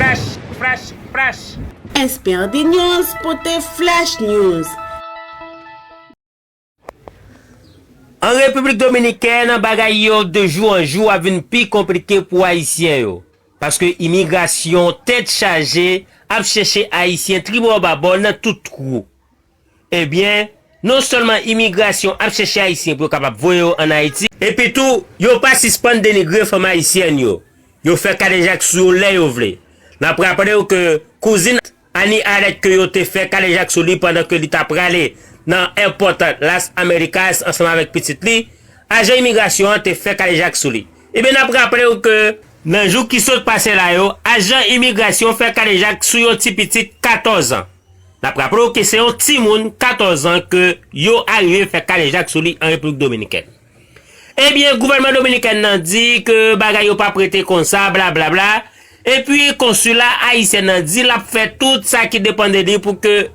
Fresh fresh fresh. Esperdy news pote flash news. An Repiblik Dominikèn, bagay yo de jou an jou ap vin pi konplike pou Ayisyen yo. Paske imigrasyon tèt chaje ap chèche Ayisyen tribòbabò nan tout twou. Ebyen, non sèlman imigrasyon ap chèche Ayisyen pou yo kapab voye yo ann Ayiti, epitou yo pa sispann denigre fanm ayisyèn yo, yo fè kadejak sou yo lè yo vle. N ap raple w ke kouzin Annie Arlette ke yo te fè kadejak sou li pandan ke li ta prale nan èpòt Las Americas ansanm avèk pitit li, ajan imigrasyon an te fè kadejak sou li. Ebyen n ap raple w ke. Nan jou ki sot pase la yo, ajan imigrasyon fè kadejak sou yon ti pitit 14 an. N ap raple w ke se yon timoun 14 an ke yo arive fè kadejak sou li an Repiblik Dominikèn. Ebyen gouvènman Dominikèn nan di ke bagay yo pap rete konsa blablabla, epi konsila Ayisyen nan di l ap fè tout sa ki depan de li pou ke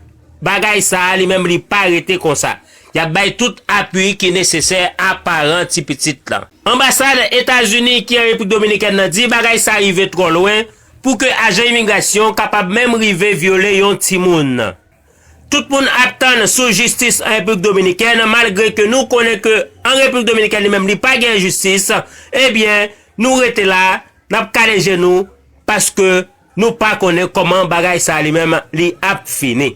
bagay sa a li menm li pa rete konsa. Y ap bay tout apui ki nesesè a paran ti pitit lan. Anbasad Etazini ki an Repiblik Dominikèn nan di bagay sa rive twò lwen, Pou ke ajan imigrasyon kapab menm rive vyole yon timoun. Tout moun ap tann sou jistis an Repiblik Dominikèn malgre ke nou konnen ke an Repiblik Dominikèn li menm li pa gen jistis, ebyen nou rete la nap kale je nou paske nou pa konnen koman bagay sa li menm li ap fini.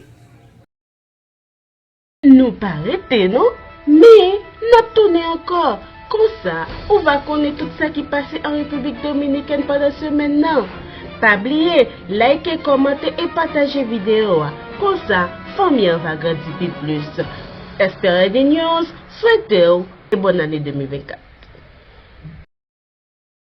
Nou pa rete non, men nap tounen ankò, konsa ou va konnen tout sa ki pase an Repiblik Dominikèn pandan semèn nan. Pa bliye like, kòmante e pataje videyo a, konsa fanmi an va grandi pi plis. Esperedy News swete w e bòn ane 2024.